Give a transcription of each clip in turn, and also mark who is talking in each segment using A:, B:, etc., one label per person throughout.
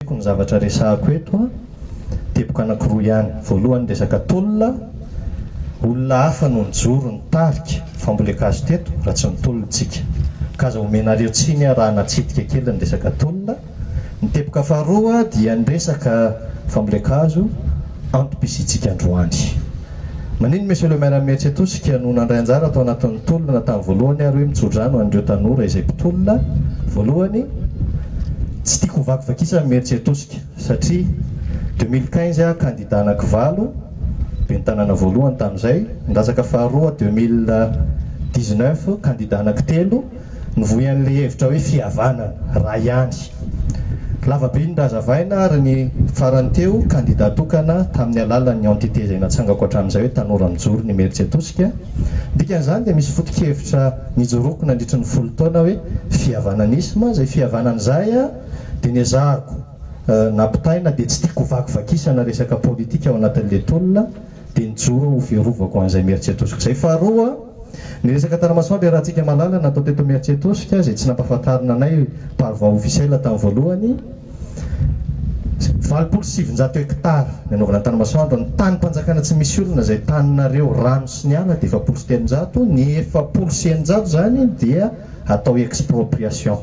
A: Amiko ny zavatra resahako eto teboka anankiroa ihany. Voalohany ny resaka tolona, olona hafa no nijoro nitarika fa mbola ekazo teto raha tsy mitolona isika. K'aza omenareo tsiny aho raha natsidika kely ny resaka tolona. Ny teboka faharoa dia ny resaka fambolen-kazo antom-pisiantsika androany. Maninn Monsieur le Maire Mihetsitosika no nandray anjara tao anatin'ny tolona tamin'ny voalohany ary hoe mitsodrano an'ireo tanora izay mpitolona voalohany Tsy tiako hovakivakisan'i Mihetsitosika satria deux mille quinze aho kandida anankivalo Ben'ny tanàna voalohany tamin'izay, Andrasaka faharoa deux mille dix neuf kandida anankitelo, Mivoy an'ilay hevitra hoe fihavanana, raha ihany. Lava be ny razavaina ary ny farany teo, kandida tokana tamin'ny alalan'ny entité izay natsangako hatramin'izay hoe Tanora Mijoro ny Imeritsiatosika. Dikan'izany dia misy foto-kevitra nijoroako nandritry ny folo taona hoe fihavananisma. Izay fihavanana izay dia niezahako nampitaina dia tsy tiako ho vakivakisana resaka politika ao anatin'ilay tolona dia nijoro aho hofiarovako an'izay Imeritsiatosiko izay. Faharoa. Ny resaka Tanamasoandro i Ratsika Malala natao teto Imeritsiatosika izay tsy nampahafantarina anay par voie officielle tamin'ny voalohany. Valopolo sy sivinjato hectares ny anaovana ny Tanamasoandro. Ny tanim-panjakana tsy misy olona izay taninareo rano sy ny ala dia efapolo sy telonjato, ny efapolo sy eninjato izany dia atao expropriation.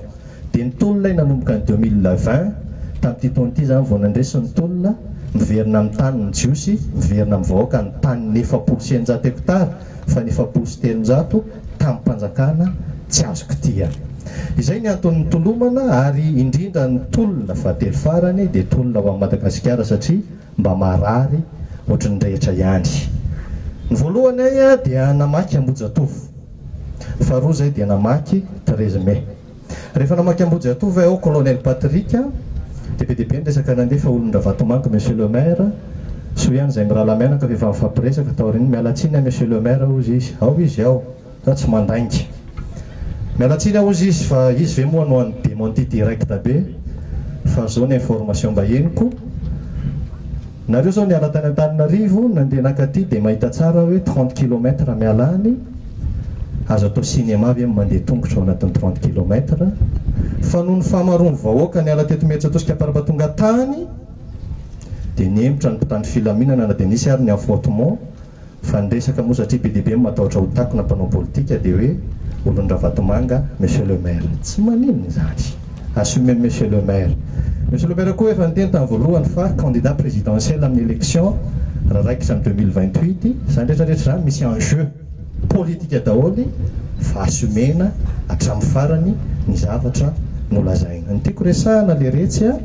A: Dia ny tolona nanomboka ny deux mille vingt tamin'ity taona ity izany vao nandresy ny tolona miverina amin'ny taniny ny Jiosy, miverina amin'ny vahoaka ny tanin'ny efapolo sy eninjato hectares. fa ny efapolo sy telonjato tamim-panjakana tsy azo kitihana. Izay ny antony nitolomana ary indrindra ny tolona fahatelo farany dia tolona ho an'i Madagasikara satria mba marary ohatry ny rehetra ihany. Ny voalohany ahy dia namaky Ambohijatovo, faharoa izay dia namaky Treize Mai. Rehefa namaky Ambodiantova ao Colonel Patrick dia be dia be ny resaka nandefa olon-dRavatomanga Monsieur le Maire, soa ihany izay mirahalahy mianaka fa efa nifampiresaka taorian'ny miala tsiny aho Monsieur le Maire hozy izy, ao izy ao, za tsy mandainga. Miala tsiny aho hozy izy fa izy ve moa no hany démenti direct be fa zao ny information mba henoko. Nareo zao niala tany Antananarivo nandeha naka aty dia mahita tsara hoe trente kilomètre miala any, azo atao cinéma ve ny mandeha tongotra ao anatin'ny trente kilomètre? Fa noho ny fahamaroan'ny vahoaka niala teto Imerintsiatosika am-parabatonga tany dia nihemotra ny mpitandro filaminana na dia nisy ary ny affrontement, Fa ny resaka moa satria be dia be ny matahotra ho takona mpanao politika dia hoe olon-dRavatomanga Monsieur le Maire. Tsy maninona izany. Assumez Monsieur le Maire. Monsieur le Maire koa efa niteny tamin'ny voalohany fa candidat présidentiel amin'ny élection raha raikitra ny deux mille vingt huit. Izany rehetra rehetra izany misy enjeu politika daholo fa assumena hatramin'ny farany ny zavatra nolazaina. Ny tiako resahana le retsy a.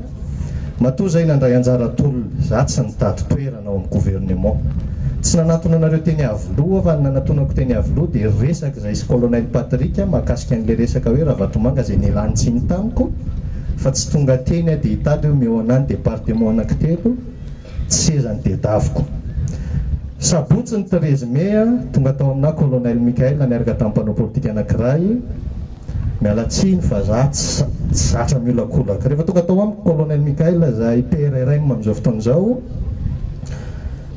A: Matoa izay nandray anjara tolona, izaho tsy nitady toerana ao amin'ny gouvernement. Tsy nanatona anareo teny Iavoloha fa ny nanatonako teny Iavoloha dia resaka izay sy Colonel Patrick mahakasika an'ilay resaka hoe Ravatomanga izay nilanin-tsiny tamiko fa tsy tonga teny aho dia hitady hoe omeo an'ahy ny département anankitelo Tsy seza ny tedaviko. Sabotsy ny treize mai a, tonga tao aminà Colonel Michael niaraka tamin'ny mpanao politika anankiray. Miala tsiny fa za tsy tsy zatra miolakolaka. Rehefa tonga tao amiko Colonel Michael izay PRRM amin'izao fotoana izao,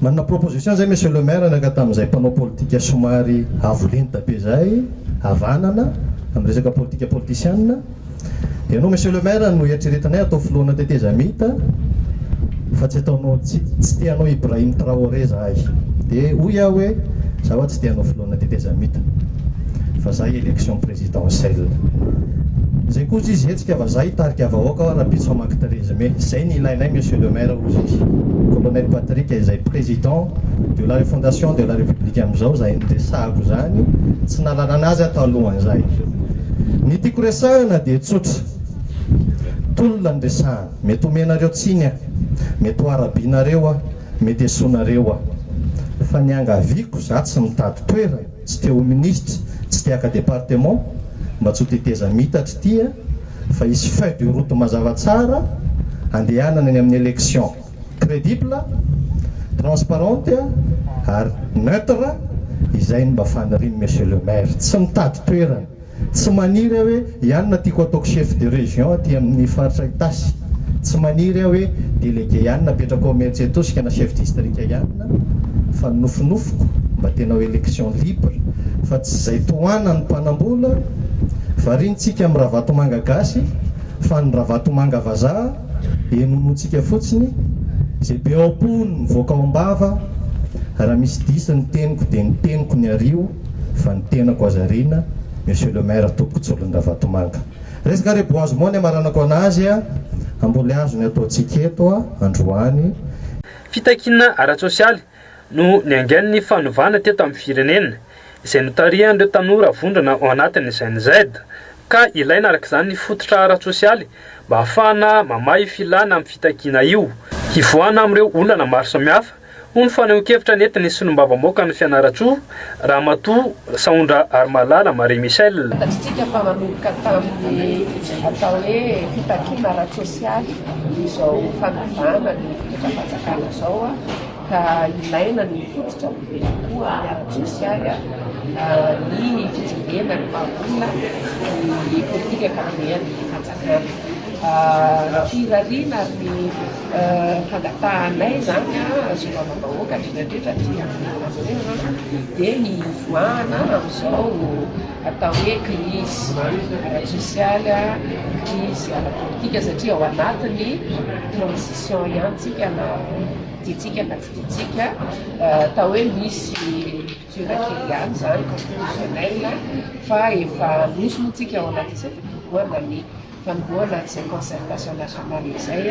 A: nanana proposition izay Monsieur le Maire niaraka tamin'izay mpanao politika somary avo lenta be izay, havanana, amin'ny resaka politika politisiana. Ianao Monsieur le Maire no eritreretinay hatao filohana tetezamita fa tsy ataonao tsy te hanao Ibrahim Traoré zahay dia hoy aho hoe za wa tsy te hanao filohana tetezamita fa za election présidentielle zay kosa izy hetsika fa za hitarika vahoaka aho rahampitso hamaky treize mai zay ny ilainay Monsieur le Maire hoy izy Colonel Patrick izay président de la refondation de la république amizao zahay no resahako zany tsy nalalana azy aho talohan'izay Ny tiako resahina dia tsotra. Tolona ny resahana. Mety omenareo tsiny aho. Mety ho arabianareo aho. Mety esoinareo aho. Fa niangaviako, za tsy mitady toerana, tsy te ho minisitra, tsy te haka département, mba tsy ho tetezam itatra ity a, fa hisy feuille de route mazava tsara handehanana eny amin'ny élection. credible, transparente ary neutre izay no mba fanirian'i Monsieur le Maire. Tsy mitady toerana, tsy maniry aho hoe iany no tiako ataoko chef de région aty amin'ny faritra Itasy, tsy maniry aho hoe délégué iany no apetrako ao Imerintsiatosika na chef district iany fa ny nofinofiko mba tena ho élection libre fa tsy izay tohanan'ny mpanambola, variantsika amin'ny Ravatomanga gasy fa ny Ravatomanga vazaha. Inoantsika fotsiny izay be ao am-po no mivoaka ao am-bava, raha misy diso ny teniko dia ny teniko ny ario fa ny tenako aza ariana Monsieur le Maire Tompoko Tsolondravatomanga. Resaka reboisement ny amaranako anazy a, amboleazo ny ataontsika eto a, androany. Fitakiana
B: ara-tsosialy no niaingan'ny fanovana teto amin'ny firenena, izay notarihan'ireo tanora vondrona ao anatin'ny GENZ, ka ilaina araka izany ny fototra ara-tsosialy mba hahafahana mamaha io filana amin'ny fitakiana io, hivoahana amin'ireo olana maro samihafa, hoy ny fanehoan-kevitra nentin'ny solombavambahoakan'i Fianarantsoa, Ramatoa Saondra Harimalala Marie Michelle. Fantatsika fa manomboka
C: tamin'ny atao hoe fitakiana ara-tsosialy izao fanavahana ny fitondram-panjakana izao ka ilaina ny mifototra be kokoa amin'ny ara-tsosialy ny fijerena ny maha-olona ny politika ankapobehan'ny fanjakana. Ny firariana ary ny Fangatahanay izany solombavambahoaka hatretratreta aty Antananarivo dia ny hivoahana amin'izao atao hoe crise ara-tsosialy, crise ara-politika satria ao anatin'ny transition ihany tsika na tiantsika na tsy tiantsika atao hoe misy rupture kely ihany izany constitutionnelle fa efa nosy moa tsika ao anatin'izay fitomboana ny Fanombohana an'izay concertation nationale izay,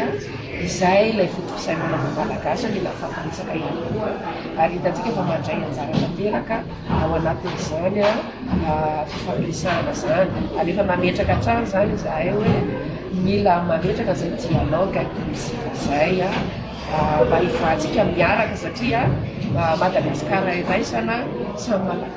C: izay ilay foto-pisainana maha-malagasy no mila fahabetsaka ihany koa, ary hitantsika fa mandray anjara tanteraka ao anatin'izany fifampiresahana izany, ary efa nametraka hatrany izany izahay hoe mila mametraka izay dialogue inclusif izay mba hivoahantsika miaraka satria Madagasikara iraisana, samy malagasy.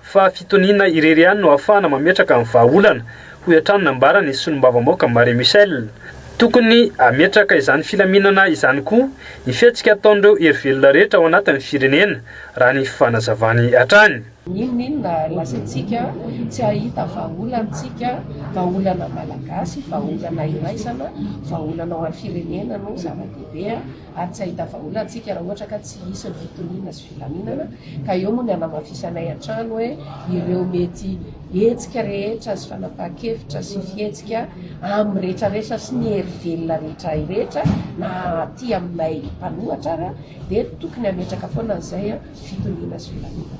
B: fa fitoniana irery ihany no ahafahana mametraka ny vahaolana, hoy hatrany nambaran' ny solombavambaoaka Marie Michelle. Tokony hametraka izany filaminana izany koa ny fihetsika ataon'ireo hery velona rehetra ao anatin'ny firenena, raha ny fanazavany hatrany. N'inon'inona
C: lazaintsika, tsy hahita vahaolantsika, vahaolana malagasy, vahaolana iraisana, vahaolana ho an'ny firenena no zava-dehibe. ary tsy hahita vahaolana tsika raha ohatra ka tsy hisy ny fitoniana sy filaminana, ka eo moa ny hanamafisanay hatrany hoe ireo mety hetsika rehetra sy fanapahan-kevitra sy fihetsika amin'ny rehetra rehetra sy ny hery velona rehetra rehetra na aty aminay mpanohatra ary dia tokony hametraka foana an'izay fitoniana sy filaminana.